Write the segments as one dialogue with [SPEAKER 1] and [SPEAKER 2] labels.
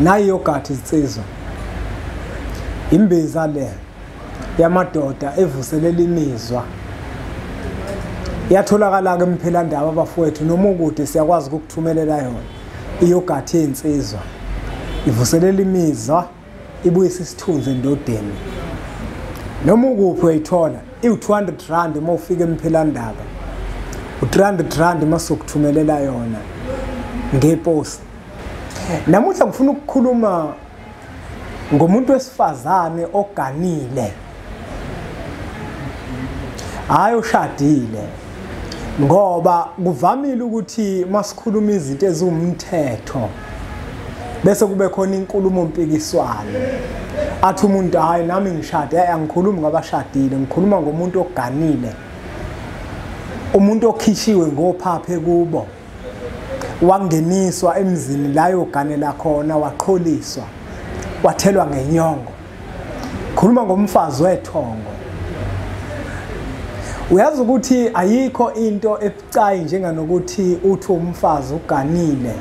[SPEAKER 1] nayi yogathi izinsizwa imbiza le yamadoda evuselela imizwa yatholakala-ke emphilandaba abafowethu noma ukude siyakwazi ukukuthumelela yona iyogathi yey'nsizwa ivuselela imizwa ibuyisa isithunzi endodeni noma ukuphi uyayithola iwu-200 rand uma ufika emphilandaba u-300 rand uma sokuthumelela yona ngeposi namuhla ngifuna ukukhuluma ngomuntu wesifazane oganile hayi ushadile ngoba kuvamile ukuthi masikhuluma izinto eziwumthetho bese kube khona inkulumo mpikiswano athi umuntu hayi nami ngishade hayi angikhulumi ngabashadile ngikhuluma ngomuntu oganile umuntu okhishiwe ngophaphe kubo wangeniswa emzini la yoganela khona waqholiswa wathelwa ngenyongo khuluma ngomfazi wethongo uyazi ukuthi ayikho into ebucayi njenganokuthi uthi umfazi uganile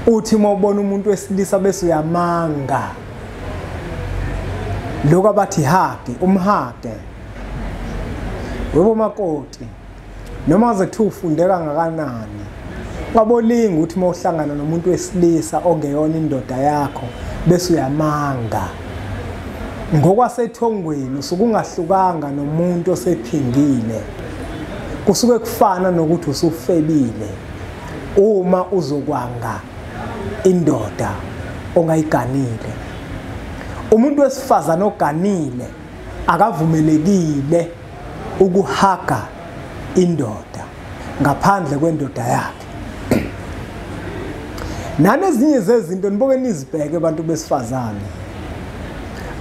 [SPEAKER 1] uthi uma ubona umuntu wesilisa bese uyamanga lokho abathi hage umhage webo makoti noma zethu ufundeka ngakanani kwabolinga ukuthi uma uhlangana nomuntu wesilisa ongeyona indoda yakho bese uyamanga ngokwasethongweni usuke ungahlukanga nomuntu osephingile kusuke kufana nokuthi usufebile uma uzokwanga indoda ongayiganile umuntu wesifazane oganile akavumelekile ukuhaga indoda ngaphandle kwendoda yakhe nanezinye zezinto niboke nizibheke abantu besifazane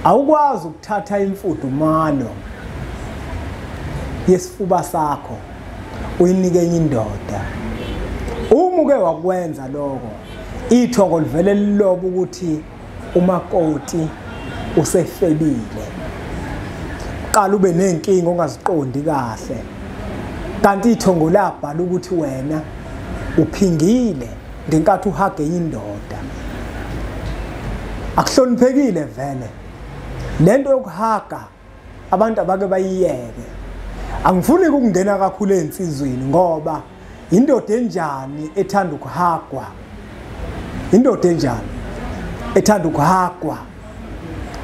[SPEAKER 1] awukwazi ukuthatha imfudumalo yesifuba sakho uyinike enye indoda uma uke wakwenza lokho ithongo livele liloba ukuthi umakoti usefebile qala ube nenkinga ongaziqondi kahle kanti ithongo labhala ukuthi wena uphingile ngenkathi uhage indoda akuhloniphekile vele lento yokuhaga abantu abake bayiyeke angifuni ukungena kakhulu ezinsizweni ngoba indoda enjani ethanda ukuhagwa indoda enjani ethanda ukuhagwa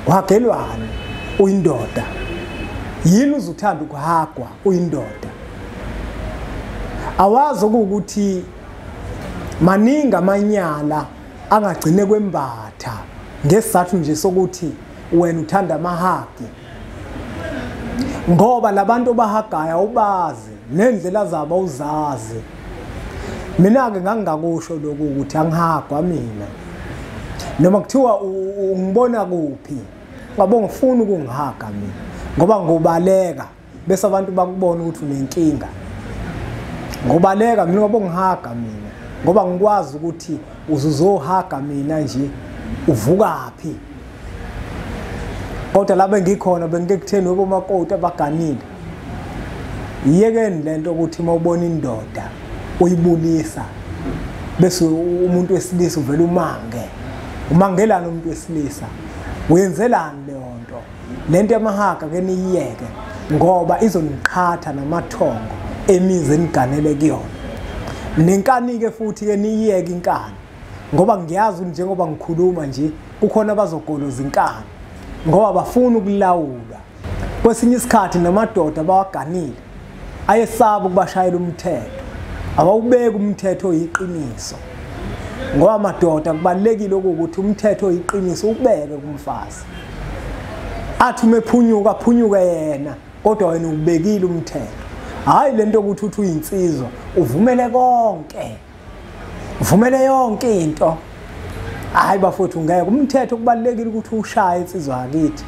[SPEAKER 1] wagelwani uyindoda yini uzuthanda ukuhagwa uyindoda awazi ukuthi maningi amanyala angagcine kwembatha ngesizathu nje sokuthi wena uthanda amahagi ngoba labantu obahagaya ubazi nendlela zabo uzazi mina ke ngangingakusho lokhu ukuthi angihagwa mina noma kuthiwa ungibona kuphi ngabo ngifuna ukungihaga mina ngoba ngobaleka bese abantu bakubona ukuthi unenkinga ngobaleka mina ngoba ungihaga mina ngoba ngikwazi ukuthi uzuzohaga mina nje uvukaphi kodwa la bengikhona bengike kutheni obomakoti abaganile yiyekeni le nto ukuthi uma ubona indoda uyibulisa bese umuntu wesilisa uvele umange umangelani umuntu wesilisa uyenzelani leyo nto le nto yamahaga ke niyiyeke ngoba izoniqhatha namathongo emizi eniganele kuyona nenkani-ke futhi-ke niyiyeke inkani ngoba ngiyazi njengoba ngikhuluma nje kukhona abazogoloza inkani ngoba bafuna ukulawula kwesinye isikhathi namadoda bawaganile ayesaba ukubashayela umthetho awawubeki umthetho oyiqiniso ngoba madoda kubalulekile ukuthi umthetho oyiqiniso ubeke kumfazi athi uma ephunyuka aphunyuke yena kodwa wena ubekile umthetho hhayi le nto yokuthi uthi uyinsizwa uvumele konke uvumele yonke into hhayi bafowethu ngeke umthetho kubalulekile ukuthi ushaye insizwa yakithi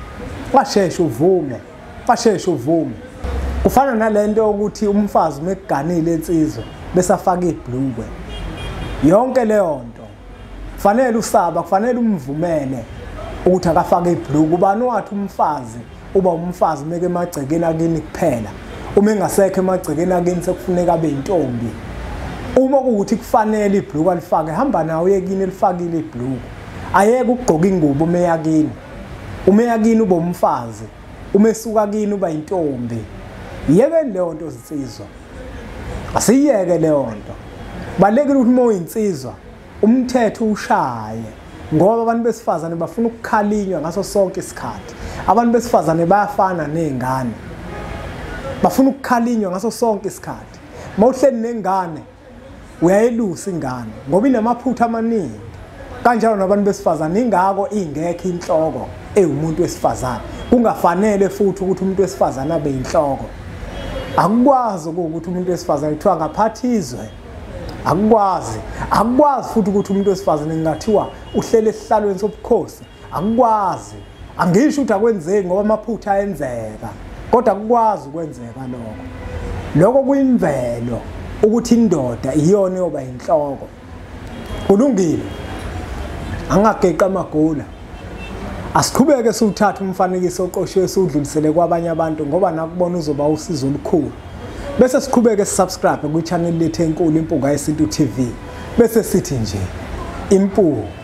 [SPEAKER 1] washeshe uvume basheshe uvume kufana nalento yokuthi umfazi uma ekuganile insizwa bese afake ibhlukwe yonke leyo nto kufanele usaba kufanele umvumele ukuthi akafake ibhlukwe ubani wathi umfazi uba umfazi umeke emagcekeni akini kuphela uma engasekho emagcekeni akini sekufuneka abe yintombi uma kuwukuthi kufanele ibhlukwe alifake hamba nawo uyekini elifakile ibhlukwe ayeke ukugqoka ingubo uma eyakini uma eya kini uba umfazi uma esuka kini uba intombi yekeni leyo nto zinsizwa asiyeke leyo nto balekile ukuthi uma uyinsizwa umthetho ushaye ngoba abantu besifazane bafuna ukukhalinywa ngaso sonke isikhathi abantu besifazane bayafana nezingane bafuna ukukhalinywa ngaso sonke isikhathi mawuhleli nengane uyayelusa ingane ngoba inamaphutha amaningi kanjalo nabantu besifazane ingako ingekho inhloko ewumuntu wesifazane kungafanele futhi ukuthi umuntu wesifazane abe inhloko akukwazi ukuthi umuntu wesifazane kuthiwa ngaphathizwe akukwazi akukwazi futhi ukuthi umuntu wesifazane ngingathiwa uhlele esihlalweni sobukhosi akukwazi angisho ukuthi akwenzeki ngoba amaphutha ayenzeka kodwa akukwazi ukwenzeka lokho lokho kuyimvelo ukuthi indoda iyona yoba inhloko kulungile angageqa amagula asiqhubeke siwuthathe umfanekiso oqoshiwe siwudlulisele kwabanye abantu ngoba nakubona uzoba usizo olukhulu bese siqhubeke sisubscribe kwi-channel lethu enkulu impunga yesintu tv bese sithi nje impunga